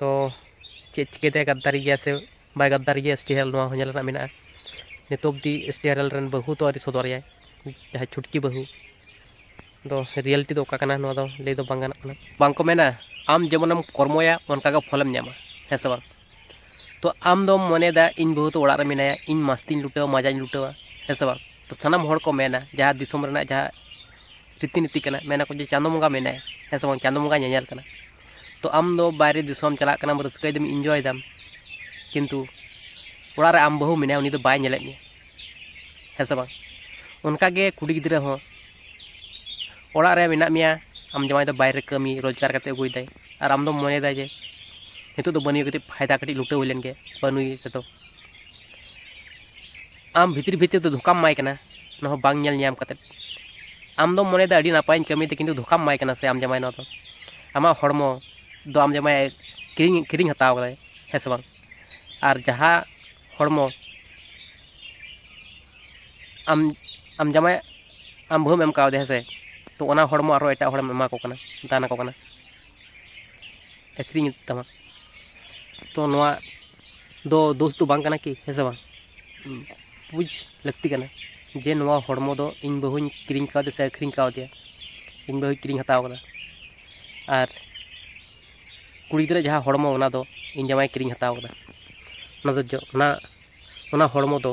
ᱛᱚ ᱪᱮᱫ ᱪᱤᱠᱟᱹ ᱛᱮ ᱜᱟᱫᱽᱫᱟᱨᱤ ᱜᱮᱭᱟ ᱥᱮ ᱵᱟᱭ ᱜᱟᱫᱽᱫᱟᱨᱤ ᱜᱮᱭᱟ ᱮᱥ ᱴᱤ ᱟᱨ ᱮᱞ ᱱᱚᱣᱟ ᱦᱚᱸ ᱧᱮᱞ ᱨᱮᱱᱟᱜ ᱢᱮᱱᱟᱜᱼᱟ ᱱᱤᱛᱚᱜ ᱚᱵᱫᱤ ᱮᱥ ᱴᱤ ᱟᱨ ᱮᱞ ᱨᱮᱱ ᱵᱟᱹᱦᱩ ᱛᱚ ᱟᱹᱣᱨᱤ ᱥᱚᱫᱚᱨᱮᱭᱟᱭ ᱡᱟᱦᱟᱸᱭ ᱪᱷᱩᱴᱠᱤ ᱵᱟᱹᱦᱩ ᱫᱚ ᱨᱤᱭᱮᱞᱴᱤ ᱫᱚ ᱚᱠᱟ ᱠᱟᱱᱟ ᱱᱚᱣᱟ ᱫᱚ ᱞᱟᱹᱭ ᱫᱚ ᱵᱟᱝ ᱜᱟᱱᱚᱜ ᱠᱟᱱᱟ ᱵᱟᱝ ᱠᱚ ᱢᱮᱱᱟ ᱟᱢ ᱡᱮᱢᱚᱱᱮᱢ ᱠᱚᱨᱢᱚᱭᱟ ᱚᱱᱠᱟ ᱜᱮ ᱯᱷᱚᱞᱮᱢ ᱧᱟᱢᱟ ᱦᱮᱸ ᱥᱮ ᱵᱟᱝ ᱛᱚ ᱟᱢ ᱫᱚᱢ ᱢᱚᱱᱮᱭᱮᱫᱟ ᱤᱧ ᱵᱟᱹᱦᱩ ᱫᱚ ᱚᱲᱟᱜ ᱨᱮ ᱢᱮᱱᱟᱭᱟ ᱤᱧ ᱢᱟᱥᱛᱤᱧ ᱞᱩᱴᱟᱹᱣᱟ ᱢᱟᱡᱟᱧ ᱞᱩᱴᱟᱹᱣᱟ ᱦᱮᱸ ᱥᱮ ᱵᱟᱝ ᱛᱚ ᱥᱟᱱᱟᱢ ᱦᱚᱲ ᱠᱚ ᱢᱮᱱᱟ ᱡᱟᱦᱟᱸ ᱫᱤᱥᱚᱢ ᱨᱮᱱᱟᱜ ᱡᱟᱦᱟᱸ ᱨᱤᱛᱤ ᱱᱤᱛᱤ ᱠᱟᱱᱟ ᱢᱮᱱᱟ ᱠᱚ ᱡᱮ ᱪᱟᱸᱫᱚ ᱵᱚᱸᱜᱟ ᱢᱮᱱᱟᱭ ᱦᱮᱸ ᱥᱮ ᱵᱟᱝ ᱪᱟᱸᱫᱚ ᱵᱚᱸᱜᱟ ᱧᱮᱧᱮᱞ ᱠᱟᱱᱟ ᱛᱚ ᱟᱢ ᱫᱚ ᱵᱟᱭᱨᱮ ᱫᱤᱥᱚᱢ ᱪᱟᱞᱟᱜ ᱠᱟᱱᱟᱢ ᱨᱟᱹᱥᱠᱟᱹᱭ ᱫᱟᱢ ᱤᱱᱡᱚᱭ ᱫᱟᱢ ᱠᱤᱱᱛᱩ ᱚᱲᱟᱜ ᱨᱮ ᱟᱢ ᱵᱟᱹᱦᱩ ᱢᱮᱱᱟᱭᱟ ᱩᱱᱤ ᱫᱚ ᱵᱟᱭ ᱧᱮᱞᱮᱫ ᱢᱮᱭᱟ ᱦᱮᱸ ᱥᱮ ᱵᱟᱝ ᱚᱱᱠᱟ ᱜᱮ ᱠᱩᱲᱤ ᱜᱤᱫᱽᱨᱟᱹ ᱦᱚᱸ ᱚᱲᱟᱜ ᱨᱮ ᱢᱮᱱᱟᱜ ᱢᱮᱭᱟ ᱟᱢ ᱡᱟᱶᱟᱭ ᱫᱚ ᱵᱟᱭᱨᱮ ᱠᱟᱹᱢᱤ ᱨᱳᱡᱽᱜᱟᱨ ᱠᱟᱛᱮ ᱟᱹᱜᱩᱭᱮᱫᱟᱭ ᱟᱨ ᱟᱢ ᱫᱚᱢ ᱢᱚᱱᱮᱭᱮᱫᱟ ᱡᱮ ᱱᱤᱛᱚᱜ ᱫᱚ ᱵᱟᱹᱱᱩᱭ ᱠᱟᱹᱴᱤᱡ ᱯᱷᱟᱭᱫᱟ ᱠᱟᱹᱴᱤᱡ ᱞᱩᱴᱟᱹᱣ ᱦᱩᱭ ᱞᱮᱱ ᱜᱮ ᱵᱟᱹᱱᱩᱭ ᱨᱮᱫᱚ ᱟᱢ ᱵᱷᱤᱛᱨᱤ ᱵᱷᱤᱛᱨᱤ ᱛᱮ ᱫᱷᱳᱠᱟᱢ ᱮᱢᱟᱭ ᱠᱟᱱᱟ ᱚᱱᱟ ᱦᱚᱸ ᱵᱟᱝ ᱧᱮᱞ ᱧᱟᱢ ᱠᱟᱛᱮ ᱟᱢ ᱫᱚᱢ ᱢᱚᱱᱮᱭᱮᱫᱟ ᱟᱹᱰᱤ ᱱᱟᱯᱟᱭᱤᱧ ᱠᱟᱹᱢᱤᱭᱮᱫᱟ ᱠᱤᱱᱛᱩ ᱫᱷᱳᱠᱟᱢ ᱮᱢᱟᱭ ᱠᱟᱱᱟ ᱥᱮ ᱟᱢ ᱡᱟᱶᱟᱭ ᱱᱚᱣᱟ ᱫᱚ ᱟᱢᱟᱜ ᱦᱚᱲᱢᱚ ᱫᱚ ᱟᱢ ᱡᱟᱶᱟᱭ ᱠᱤᱨᱤᱧ ᱠᱤᱨᱤᱧ ᱦᱟᱛᱟᱣ ᱠᱟᱫᱟᱭ ᱦᱮᱸ ᱥᱮ ᱵᱟᱝ ᱟᱨ ᱡᱟᱦᱟᱸ ᱦᱚᱲᱢᱚ ᱟᱢ ᱟᱢ ᱡᱟᱶᱟᱭ ᱟᱢ ᱵᱟᱹᱦᱩᱢ ᱮᱢ ᱠᱟᱣᱫᱮᱭᱟ ᱦᱮᱸ ᱥᱮ ᱛᱚ ᱚᱱᱟ ᱦᱚᱲᱢᱚ ᱟᱨᱦᱚᱸ ᱮᱴᱟᱜ ᱦᱚᱲᱮᱢ ᱮᱢᱟ ᱠᱚ ᱠᱟᱱᱟ ᱫᱟᱱ ᱟᱠᱚ ᱠᱟᱱᱟ ᱟᱹᱠᱷᱨᱤᱧᱮᱫ ᱛᱟᱢᱟ ᱛᱚ ᱱᱚᱣᱟ ᱫᱚ ᱫᱳᱥ ᱫᱚ ᱵᱟᱝ ᱠᱟᱱᱟ ᱠᱤ ᱦᱮᱸ ᱥᱮ ᱵᱟᱝ ᱵᱩᱡᱽ ᱞᱟᱹᱠᱛᱤ ᱠᱟᱱᱟ ᱡᱮ ᱱᱚᱣᱟ ᱦᱚᱲᱢᱚ ᱫᱚ ᱤᱧ ᱵᱟᱹᱦᱩᱧ ᱠᱤᱨᱤᱧ ᱠᱟᱣᱫᱮᱭᱟ ᱥᱮ ᱟᱹᱠᱷᱨᱤᱧ ᱠᱟᱣᱫᱮᱭᱟ ᱤᱧ ᱵᱟᱹᱦᱩᱭ ᱠᱤᱨᱤᱧ ᱦᱟᱛᱟᱣ ᱠᱟᱫᱟ ᱟᱨ ᱠᱩᱲᱤ ᱜᱤᱫᱽᱨᱟᱹ ᱡᱟᱦᱟᱸ ᱦᱚᱲᱢᱚ ᱚᱱᱟ ᱫᱚ ᱤᱧ ᱡᱟᱶᱟᱭᱮ ᱠᱤᱨᱤᱧ ᱦᱟᱛᱟᱣ ᱠᱟᱫᱟ ᱚᱱᱟ ᱫᱚ ᱚᱱᱟ ᱚᱱᱟ ᱦᱚᱲᱢᱚ ᱫᱚ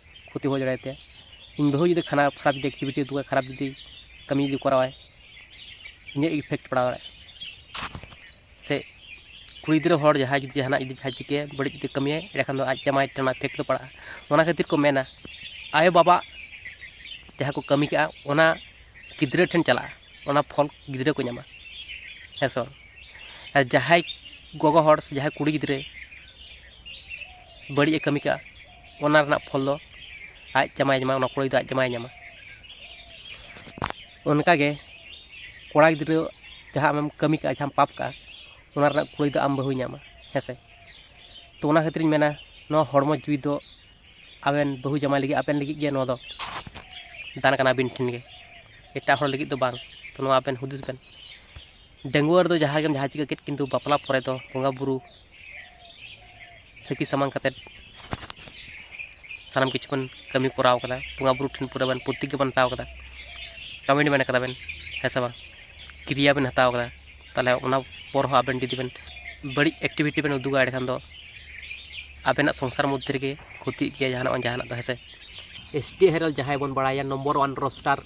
ᱠᱷᱚᱛᱤ ᱦᱩᱭ ᱫᱟᱲᱮᱭᱟᱭ ᱛᱟᱭᱟ ᱤᱧ ᱵᱟᱹᱦᱩ ᱡᱩᱫᱤ ᱠᱷᱟᱨᱟᱯ ᱠᱷᱟᱨᱟᱯ ᱡᱩᱫᱤ ᱮᱠᱴᱤᱵᱷᱤᱴᱤ ᱩᱫᱩᱜ ᱟᱭ ᱠᱷᱟᱨᱟᱯ ᱡᱩᱫᱤ ᱠᱟᱹᱢᱤ ᱡᱩᱫᱤ ᱠᱚᱨᱟᱣ ᱟᱭ ᱤᱧᱟᱹᱜ ᱤᱯᱷᱮᱠᱴ ᱯᱟᱲᱟᱣ ᱫᱟᱲᱮᱭᱟᱜᱼᱟ ᱥᱮ ᱠᱩᱲᱤ ᱜᱤᱫᱽᱨᱟᱹ ᱦᱚᱲ ᱡᱟᱦᱟᱸᱭ ᱡᱩᱫᱤ ᱡᱟᱦᱟᱱᱟᱜ ᱡᱩᱫᱤ ᱡᱟᱦᱟᱸᱭ ᱪᱤᱠᱟᱹᱭᱟᱭ ᱵᱟᱹᱲᱤᱡ ᱡᱩᱫᱤ ᱠᱟᱹᱢᱤᱭᱟᱭ ᱮᱸᱰᱮᱠᱷᱟᱱ ᱫᱚ ᱟᱡ ᱡᱟᱢᱟᱭ ᱴᱷᱮᱱ ᱚᱱᱟ ᱤᱯᱷᱮᱠᱴ ᱫᱚ ᱯᱟᱲᱟᱜᱼᱟ ᱚᱱᱟ ᱠᱷᱟᱹᱛᱤᱨ ᱠᱚ ᱢᱮᱱᱟ ᱟᱭᱳ ᱵᱟᱵᱟ ᱡᱟᱦᱟᱸ ᱠᱚ ᱠᱟᱹᱢᱤ ᱠᱟᱜᱼᱟ ᱚᱱᱟ ᱜᱤᱫᱽᱨᱟᱹ ᱴᱷᱮᱱ ᱪᱟᱞᱟᱜᱼᱟ ᱚᱱᱟ ᱯᱷᱚᱞ ᱜᱤᱫᱽᱨᱟᱹ ᱠᱚ ᱧᱟᱢᱟ ᱦᱮᱸ ᱥᱮ ᱵᱟᱝ ᱟᱨ ᱡᱟᱦᱟᱸᱭ ᱜᱚᱜᱚ ᱦᱚᱲ ᱥᱮ ᱡᱟᱦᱟᱸᱭ ᱠᱩᱲᱤ ᱜᱤᱫᱽᱨᱟᱹ ᱵᱟᱹᱲᱤᱡ ᱮ ᱠᱟᱹᱢᱤ ᱠᱟᱜᱼᱟ ᱚᱱᱟ ᱨᱮᱱᱟᱜ ᱯᱷᱚᱞ ᱫᱚ ᱟᱡ ᱡᱟᱢᱟᱭᱮ ᱧᱟᱢᱟ ᱚᱱᱟ ᱠᱩᱲᱟᱹᱭ ᱫᱚ ᱟᱡ ᱡᱟᱢᱟᱭᱮ ᱧᱟᱢᱟ ᱚᱱᱠᱟ ᱜᱮ ᱠᱚᱲᱟ ᱜᱤᱫᱽᱨᱟᱹ ᱡᱟᱦᱟᱸ ᱟᱢᱮᱢ ᱠᱟᱹᱢᱤ ᱠᱟᱜᱼᱟ ᱡᱟᱦᱟᱸᱢ ᱯᱟᱯ ᱠᱟᱜᱼᱟ ᱚᱱᱟ ᱨᱮᱱᱟᱜ ᱠᱩᱲᱟᱹᱭ ᱫᱚ ᱟᱢ ᱵᱟᱹᱦᱩᱭ ᱧᱟᱢᱟ ᱦᱮᱸ ᱥᱮ ᱛᱚ ᱚᱱᱟ ᱠᱷᱟᱹᱛᱤᱨ ᱤᱧ ᱢᱮᱱᱟ ᱱᱚᱣᱟ ᱦᱚᱲᱢᱚ ᱡᱤᱣᱤ ᱫᱚ ᱟᱵᱮᱱ ᱵᱟᱹᱦᱩ ᱡᱟᱢᱟᱭ ᱞᱟᱹᱜᱤᱫ ᱟᱵᱮᱱ ᱞᱟᱹᱜᱤᱫ ᱜᱮ ᱱᱚᱣᱟ ᱫᱚ ᱫᱟᱱ ᱠᱟᱱᱟ ᱟᱹᱵᱤᱱ ᱴᱷᱮᱱ ᱜᱮ ᱮᱴᱟᱜ ᱦᱚᱲ ᱞᱟᱹᱜᱤᱫ ᱫᱚ ᱵᱟᱝ ᱛᱚ ᱱᱚᱣᱟ ᱟᱵᱮᱱ ᱦᱩᱫᱤᱥ ᱵᱮᱱ ᱰᱟᱺᱜᱩᱣᱟᱹ ᱨᱮᱫᱚ ᱡᱟᱦᱟᱸ ᱜᱮᱢ ᱡᱟᱦᱟᱸ ᱪᱤᱠᱟᱹ ᱠᱮᱫ ᱠᱤᱱᱛᱩ ᱵᱟᱯᱞᱟ ᱯᱚᱨᱮ ᱫᱚ ᱵᱚᱸᱜᱟᱼᱵᱩᱨᱩ ᱥᱟᱹᱠᱷᱤ ᱥᱟᱢᱟᱝ ᱠᱟᱛᱮ ᱥᱟᱱᱟᱢ ᱠᱤᱪᱷᱩ ᱵᱚᱱ ᱠᱟᱹᱢᱤ ᱠᱚᱨᱟᱣ ᱠᱟᱫᱟ ᱵᱚᱸᱜᱟ ᱵᱩᱨᱩ ᱴᱷᱮᱱ ᱯᱩᱨᱟᱹ ᱵᱚᱱ ᱯᱨᱚᱛᱤᱜᱽᱜᱟ ᱵᱚᱱ ᱦᱟᱛᱟᱣ ᱠᱟᱫᱟ ᱠᱟᱢᱤᱴ ᱢᱮᱱ ᱠᱟᱫᱟ ᱵᱮᱱ ᱦᱮᱸ ᱥᱮ ᱵᱟᱝ ᱠᱨᱤᱭᱟ ᱵᱮᱱ ᱦᱟᱛᱟᱣ ᱠᱟᱫᱟ ᱛᱟᱦᱚᱞᱮ ᱚᱱᱟ ᱯᱚᱨ ᱦᱚᱸ ᱟᱵᱮᱱ ᱡᱩᱫᱤ ᱵᱮᱱ ᱵᱟᱹᱲᱤᱡ ᱮᱠᱴᱤᱵᱷᱤᱴᱤ ᱵᱮᱱ ᱩᱫᱩᱜᱟ ᱮᱸᱰᱮᱠᱷᱟᱱ ᱫᱚ ᱟᱵᱮᱱᱟᱜ ᱥᱚᱝᱥᱟᱨ ᱢᱚᱫᱽᱫᱷᱮ ᱨᱮᱜᱮ ᱠᱷᱚᱛᱤᱜ ᱜᱮᱭᱟ ᱡᱟᱦᱟᱱᱟᱜ ᱵᱟᱝ ᱡᱟᱦᱟᱱᱟᱜ ᱫᱚ ᱦᱮᱸ ᱥᱮ ᱮᱥ ᱴᱤ ᱦᱮᱨᱮᱞ ᱡᱟᱦᱟᱸᱭ ᱵᱚᱱ ᱵᱟᱲᱟᱭᱟ ᱱᱚᱢᱵᱚᱨ ᱚᱣᱟᱱ ᱨᱳᱥᱴᱟᱨ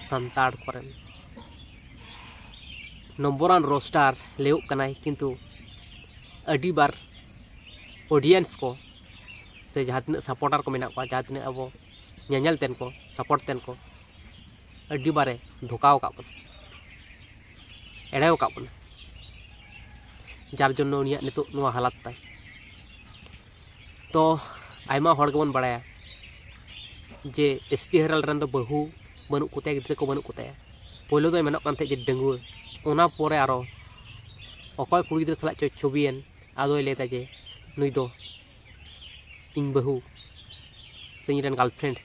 ᱥᱟᱱᱛᱟᱲ ᱠᱚᱨᱮᱱ ᱱᱚᱢᱵᱚᱨ ᱟᱱ ᱨᱳᱥᱴᱟᱨ ᱞᱟᱹᱭᱚᱜ ᱠᱟᱱᱟᱭ ᱠᱤᱱᱛᱩ ᱟᱹᱰᱤ ᱵᱟᱨ ᱚᱰᱤᱭᱮᱱᱥ ᱠᱚ ᱥᱮ ᱡᱟᱦᱟᱸ ᱛᱤᱱᱟᱹᱜ ᱥᱟᱯᱚᱨᱴᱟᱨ ᱠᱚ ᱢᱮᱱᱟᱜ ᱠᱚᱣᱟ ᱡᱟᱦᱟᱸ ᱛᱤᱱᱟᱹᱜ ᱟᱵᱚ ᱧᱮᱧᱮᱞ ᱛᱮᱱ ᱠᱚ ᱥᱟᱯᱚᱨᱴ ᱛᱮᱱ ᱠᱚ ᱟᱹᱰᱤ ᱵᱟᱨᱮ ᱫᱷᱳᱠᱟᱣ ᱟᱠᱟᱫ ᱵᱚᱱᱟ ᱮᱲᱮᱣ ᱟᱠᱟᱫ ᱵᱚᱱᱟ ᱡᱟᱨ ᱡᱚᱱᱱᱚ ᱩᱱᱤᱭᱟᱜ ᱱᱤᱛᱚᱜ ᱱᱚᱣᱟ ᱦᱟᱞᱟᱛ ᱛᱟᱭ ᱛᱚ ᱟᱭᱢᱟ ᱦᱚᱲ ᱜᱮᱵᱚᱱ ᱵᱟᱲᱟᱭᱟ ᱡᱮ ᱮᱥ ᱴᱤ ᱦᱮᱨᱟᱞᱰ ᱨᱮᱱ ᱫᱚ ᱵᱟᱹᱦᱩ ᱵᱟᱹᱱᱩᱜ ᱠᱚᱛᱟᱭᱟ ᱜᱤᱫᱽᱨᱟᱹ ᱠᱚ ᱵᱟᱹᱱᱩᱜ ᱠᱚᱛᱟᱭᱟ ᱯᱳᱭᱞᱳ ᱫᱚᱭ ᱢᱮᱱᱚᱜ ᱠᱟᱱ ᱛᱟᱦᱮᱸᱫ ᱡᱮ ᱰᱟᱺᱜᱩᱣᱟᱹ ᱚᱱᱟ ᱯᱚᱨᱮ ᱟᱨᱚ ᱚᱠᱚᱭ ᱠᱩᱲᱤ ᱜᱤᱫᱽᱨᱟᱹ ᱥᱟᱞᱟᱜ ᱪᱚᱭ ᱪᱷᱚᱵᱤᱭᱮᱱ ᱟᱫᱚᱭ ᱞᱟᱹᱭᱫᱟ ᱡᱮ ᱱᱩᱭ ᱫᱚ ᱤᱧ ᱵᱟᱹᱦᱩ ᱥᱮ ᱤᱧ ᱨᱮᱱ ᱜᱟᱨᱞᱯᱷᱨᱮᱱᱰ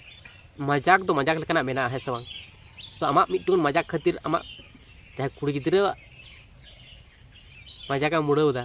ᱢᱟᱡᱟᱠ ᱫᱚ ᱢᱟᱡᱟᱠ ᱞᱮᱠᱟᱱᱟᱜ ᱢᱮᱱᱟᱜᱼᱟ ᱦᱮᱸ ᱥᱮ ᱵᱟᱝ ᱛᱚ ᱟᱢᱟᱜ ᱢᱤᱫᱴᱟᱝ ᱢᱟᱡᱟᱠ ᱠᱷᱟᱹᱛᱤᱨ ᱟᱢᱟᱜ ᱡᱟᱦᱟᱸᱭ ᱠᱩᱲᱤ ᱜᱤᱫᱽᱨᱟᱹᱣᱟᱜ ᱢᱟᱡᱟᱠ ᱮᱢ ᱩᱲᱟᱹᱣᱫᱟ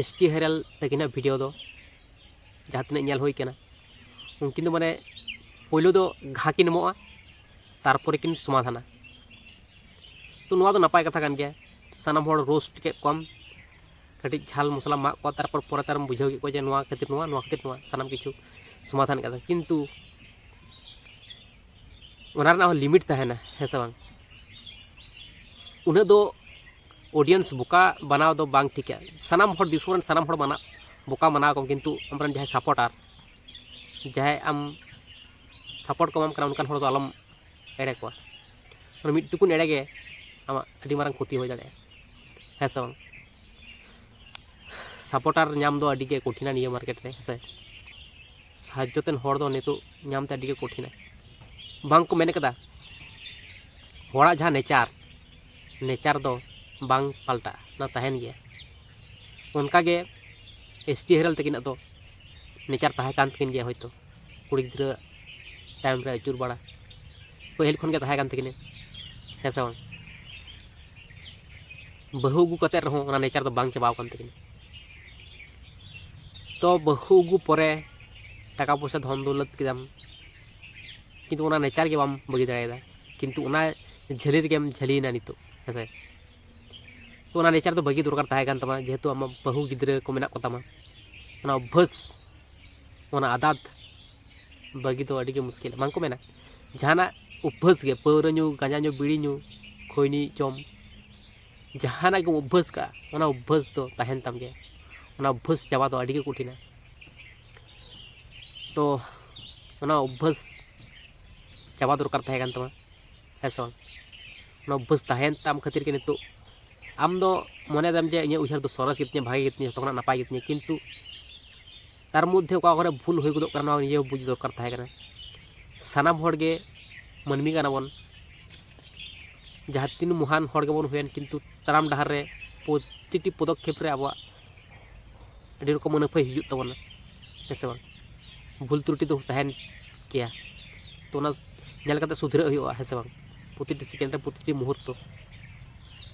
ᱮᱥ ᱴᱤ ᱦᱮᱨᱮᱞ ᱛᱟᱹᱠᱤᱱᱟᱜ ᱵᱷᱤᱰᱤᱭᱳ ᱫᱚ ᱡᱟᱦᱟᱸ ᱛᱤᱱᱟᱹᱜ ᱧᱮᱞ ᱦᱩᱭ ᱠᱟᱱᱟ ᱩᱱᱠᱤᱱ ᱫᱚ ᱢᱟᱱᱮ ᱯᱳᱭᱞᱳ ᱫᱚ ᱜᱷᱟ ᱠᱤᱱ ᱮᱢᱚᱜᱼᱟ ᱛᱟᱨᱯᱚᱨᱮ ᱠᱤᱱ ᱥᱚᱢᱟᱫᱷᱟᱱᱟ ᱛᱚ ᱱᱚᱣᱟ ᱫᱚ ᱱᱟᱯᱟᱭ ᱠᱟᱛᱷᱟ ᱠᱟᱱ ᱜᱮᱭᱟ ᱥᱟᱱᱟᱢ ᱦᱚᱲ ᱨᱳᱥᱴ ᱠᱮᱫ ᱠᱚᱣᱟᱢ ᱠᱟᱹᱴᱤᱡ ᱡᱷᱟᱞ ᱢᱚᱥᱞᱟᱢ ᱮᱢᱟᱜ ᱠᱚᱣᱟ ᱛᱟᱨᱯᱚᱨ ᱯᱚᱨᱮ ᱛᱮᱢ ᱵᱩᱡᱷᱟᱹᱣ ᱠᱮᱫ ᱠᱚᱣᱟ ᱡᱮ ᱱᱚᱣᱟ ᱠᱷᱟᱹᱛᱤᱨ ᱱᱚᱣᱟ ᱱᱚᱣᱟ ᱠᱷᱟᱹᱛᱤᱨ ᱱᱚᱣᱟ ᱥᱟᱱᱟᱢ ᱠᱤᱪᱷᱩ ᱥᱚᱢᱟᱫᱷᱟᱱ ᱠᱟᱫᱟ ᱠᱤᱱᱛᱩ ᱚᱱᱟ ᱨᱮᱱᱟᱜ ᱦᱚᱸ ᱞᱤᱢᱤᱴ ᱛᱟᱦᱮᱱᱟ ᱦᱮᱸ ᱥᱮ ᱵᱟᱝ ᱩᱱᱟᱹᱜ ᱫᱚ ᱚᱰᱤᱭᱮᱱᱥ ᱵᱚᱠᱟ ᱵᱟᱱᱟᱣ ᱫᱚ ᱵᱟᱝ ᱴᱷᱤᱠᱟ ᱥᱟᱱᱟᱢ ᱦᱚᱲ ᱫᱤᱥᱚᱢ ᱨᱮᱱ ᱥᱟᱱᱟᱢ ᱦᱚᱲ ᱢᱟᱱᱟ ᱵᱚᱠᱟ ᱢᱟᱱᱟᱣ ᱠᱚᱢ ᱠᱤᱱᱛᱩ ᱟᱢᱨᱮᱱ ᱡᱟᱦᱟᱸᱭ ᱥᱟᱯᱚᱴᱟᱨ ᱡᱟᱦᱟᱸᱭ ᱟᱢ ᱥᱟᱯᱚᱴ ᱠᱚ ᱮᱢᱟᱢ ᱠᱟᱱᱟ ᱚᱱᱠᱟᱱ ᱦᱚᱲ ᱫᱚ ᱟᱞᱚᱢ ᱮᱲᱮ ᱠᱚᱣᱟ ᱢᱟᱱᱮ ᱢᱤᱫ ᱴᱩᱠᱩᱱ ᱮᱲᱮ ᱜᱮ ᱟᱢᱟᱜ ᱟᱹᱰᱤ ᱢᱟᱨᱟᱝ ᱠᱷᱚᱛᱤ ᱦᱩᱭ ᱫᱟᱲᱮᱭᱟᱜᱼᱟ ᱦᱮᱸ ᱥᱮ ᱵᱟᱝ ᱥᱟᱯᱚᱴᱟᱨ ᱧᱟᱢ ᱫᱚ ᱟᱹᱰᱤ ᱜᱮ ᱠᱚᱴᱷᱤᱱᱟ ᱱᱤᱭᱟᱹ ᱢᱟᱨᱠᱮᱴ ᱨᱮ ᱦᱮᱸ ᱥᱮ ᱥᱟᱦᱟᱡᱽᱡᱚ ᱛᱮᱱ ᱦᱚᱲ ᱫᱚ ᱱᱤᱛᱚᱜ ᱧᱟᱢ ᱛᱮ ᱟᱹᱰᱤ ᱜᱮ ᱠᱚᱴᱷᱤᱱᱟ ᱵᱟᱝ ᱠᱚ ᱢᱮᱱ ᱠᱟᱫᱟ ᱦᱚᱲᱟᱜ ᱡᱟᱦᱟᱸ ᱱᱮᱪᱟᱨ ᱱᱮᱪᱟᱨ ᱫᱚ ᱵᱟᱝ ᱯᱟᱞᱴᱟᱜᱼᱟ ᱚᱱᱟ ᱛᱟᱦᱮᱱ ᱜᱮᱭᱟ ᱚᱱᱠᱟ ᱜᱮ ᱮᱥ ᱴᱤ ᱦᱮᱨᱮᱞ ᱛᱟᱹᱠᱤᱱᱟᱜ ᱫᱚ ᱱᱮᱪᱟᱨ ᱛᱟᱦᱮᱸ ᱠᱟᱱ ᱛᱟᱹᱠᱤᱱ ᱜᱮᱭᱟ ᱦᱳᱭᱛᱳ ᱠᱩᱲᱤ ᱜᱤᱫᱽᱨᱟᱹ ᱛᱟᱭᱚᱢ ᱨᱮ ᱟᱹᱪᱩᱨ ᱵᱟᱲᱟ ᱯᱟᱹᱦᱤᱞ ᱠᱷᱚᱱ ᱜᱮ ᱛᱟᱦᱮᱸ ᱠᱟᱱ ᱛᱟᱹᱠᱤᱱᱟ ᱦᱮᱸ ᱥᱮ ᱵᱟᱝ ᱵᱟᱹᱦᱩ ᱟᱹᱜᱩ ᱠᱟᱛᱮ ᱨᱮᱦᱚᱸ ᱚᱱᱟ ᱱᱮᱪᱟᱨ ᱫᱚ ᱵᱟᱝ ᱪᱟᱵᱟᱣ ᱠᱟᱱ ᱛᱟᱹᱠᱤᱱᱟ ᱛᱚ ᱵᱟᱹᱦᱩ ᱟᱹᱜᱩ ᱯᱚᱨᱮ ᱴᱟᱠᱟ ᱯᱚᱭᱥᱟ ᱫᱷᱚᱱ ᱫᱳᱣᱞᱚᱛ ᱠᱮᱫᱟᱢ ᱠᱤᱱᱛᱩ ᱚᱱᱟ ᱱᱮᱪᱟᱨ ᱜᱮ ᱵᱟᱢ ᱵᱟᱹᱜᱤ ᱫᱟᱲᱮᱭᱟᱫᱟ ᱠᱤᱱᱛᱩ ᱚᱱᱟ ᱡᱷᱟᱹᱞᱤ ᱨᱮᱜᱮᱢ ᱡᱷᱟᱹᱞᱤᱭᱮᱱᱟ ᱱᱤᱛᱚᱜ ᱦᱮᱸᱥᱮ ᱛᱚ ᱚᱱᱟ ᱱᱮᱪᱟᱨ ᱫᱚ ᱵᱟᱹᱜᱤ ᱫᱚᱨᱠᱟᱨ ᱛᱟᱦᱮᱸ ᱠᱟᱱ ᱛᱟᱢᱟ ᱡᱮᱦᱮᱛᱩ ᱟᱢᱟᱜ ᱵᱟᱹᱦᱩ ᱜᱤᱫᱽᱨᱟᱹ ᱠᱚ ᱢᱮᱱᱟᱜ ᱠᱚᱛᱟᱢᱟ ᱚᱱᱟ ᱚᱵᱵᱷᱟᱥ ᱚᱱᱟ ᱟᱫᱟᱛ ᱵᱟᱹᱜᱤ ᱫᱚ ᱟᱹᱰᱤᱜᱮ ᱢᱩᱥᱠᱤᱞ ᱵᱟᱝᱠᱚ ᱢᱮᱱᱟ ᱡᱟᱦᱟᱱᱟᱜ ᱚᱵᱵᱷᱟᱥ ᱜᱮ ᱯᱟᱹᱣᱨᱟᱹ ᱧᱩ ᱜᱟᱸᱡᱟ ᱧᱩ ᱵᱤᱲᱤ ᱧᱩ ᱠᱷᱚᱭᱱᱤ ᱡᱚᱢ ᱡᱟᱦᱟᱱᱟᱜ ᱜᱮᱢ ᱚᱵᱵᱷᱟᱥ ᱠᱟᱜᱼᱟ ᱚᱱᱟ ᱚᱵᱵᱷᱟᱥ ᱫᱚ ᱛᱟᱦᱮᱱ ᱛᱟᱢ ᱜᱮᱭᱟ ᱚᱱᱟ ᱚᱵᱵᱷᱟᱥ ᱪᱟᱵᱟ ᱫᱚ ᱟᱹᱰᱤᱜᱮ ᱠᱚᱴᱷᱤᱱᱟ ᱛᱚ ᱚᱱᱟ ᱚᱵᱵᱷᱟᱥ ᱪᱟᱵᱟ ᱫᱚᱨᱠᱟᱨ ᱛᱟᱦᱮᱸ ᱠᱟᱱ ᱛᱟᱢᱟ ᱦᱮᱸ ᱥᱮ ᱵᱟᱝ ᱚᱱᱟ ᱚᱵᱵᱷᱟᱥ ᱛᱟᱦᱮᱸᱭᱮᱱ ᱛᱟᱢ ᱠᱷᱟᱹᱛᱤᱨ ᱜᱮ ᱱᱤᱛᱚᱜ ᱟᱢ ᱫᱚ ᱢᱚᱱᱮ ᱫᱟᱢ ᱡᱮ ᱤᱧᱟᱹᱜ ᱩᱭᱦᱟᱹᱨ ᱫᱚ ᱥᱚᱨᱮᱥ ᱜᱮᱛᱤᱧᱟ ᱵᱷᱟᱜᱮ ᱜᱮᱛᱤᱧᱟ ᱡᱚᱛᱚ ᱠᱷᱚᱱᱟᱜ ᱱᱟᱯᱟᱭ ᱜᱮᱛᱤᱧᱟ ᱠᱤᱱᱛᱩ ᱛᱟᱨ ᱢᱚᱫᱽᱫᱷᱮ ᱚᱠᱟ ᱠᱚᱨᱮ ᱵᱷᱩᱞ ᱦᱩᱭ ᱜᱚᱫᱚᱜ ᱠᱟᱱᱟ ᱱᱚᱣᱟ ᱱᱤᱡᱮ ᱵᱩᱡᱽ ᱫᱚᱨᱠᱟᱨ ᱛᱟᱦᱮᱸ ᱠᱟᱱᱟ ᱥᱟᱱᱟᱢ ᱦᱚᱲ ᱜᱮ ᱢᱟᱹᱱᱢᱤ ᱠᱟᱱᱟ ᱵᱚᱱ ᱡᱟᱦᱟᱸ ᱛᱤᱱ ᱢᱚᱦᱟᱱ ᱦᱚᱲ ᱜᱮᱵᱚᱱ ᱦᱩᱭᱮᱱ ᱠᱤᱱᱛᱩ ᱛᱟᱲᱟᱢ ᱰᱟᱦᱟᱨ ᱨᱮ ᱯᱨᱚᱛᱤᱴᱤ ᱯᱚᱫᱚᱠᱷᱮᱯ ᱨᱮ ᱟᱵᱚᱣᱟᱜ ᱟᱹᱰᱤ ᱨᱚᱠᱚᱢ ᱟᱹᱱᱟᱹᱯᱟᱹᱭ ᱦᱤᱡᱩᱜ ᱛᱟᱵᱚᱱᱟ ᱦᱮᱸ ᱥᱮ ᱵᱟᱝ ᱵᱷᱩᱞ ᱛᱨᱩᱴᱤ ᱫᱚ ᱛᱟᱦᱮᱱ ᱜᱮᱭᱟ ᱛᱚ ᱚᱱᱟ ᱧᱮᱞ ᱠᱟᱛᱮ ᱥᱩᱫᱷᱨᱟᱹᱜ ᱦᱩᱭᱩᱜᱼᱟ ᱦᱮᱸ ᱥᱮ ᱵᱟᱝ ᱯᱨᱚᱛᱤᱴᱤ ᱥᱮᱠᱮᱱᱰ ᱨᱮ ᱯᱨᱚᱛᱤᱴᱤ ᱢᱩᱦᱩᱨᱛᱚ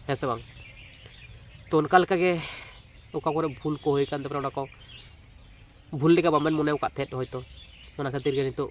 ᱦᱮᱸ ᱥᱮ ᱵᱟᱝ ᱛᱚ ᱚᱱᱠᱟ ᱞᱮᱠᱟᱜᱮ ᱚᱠᱟ ᱠᱚᱨᱮ ᱵᱷᱩᱞ ᱠᱚ ᱦᱩᱭ ᱠᱟᱱ ᱛᱟᱵᱮᱱᱟ ᱚᱱᱟ ᱠᱚ ᱵᱷᱩᱞ ᱞᱮᱠᱟ ᱵᱟᱵᱮᱱ ᱢᱚᱱᱮ ᱟᱠᱟᱫ ᱛᱟᱦᱮᱸᱫ ᱦᱚᱭᱛᱳ ᱚᱱᱟ ᱠᱷᱟᱹᱛᱤᱨ ᱜᱮ ᱱᱤᱛᱚᱜ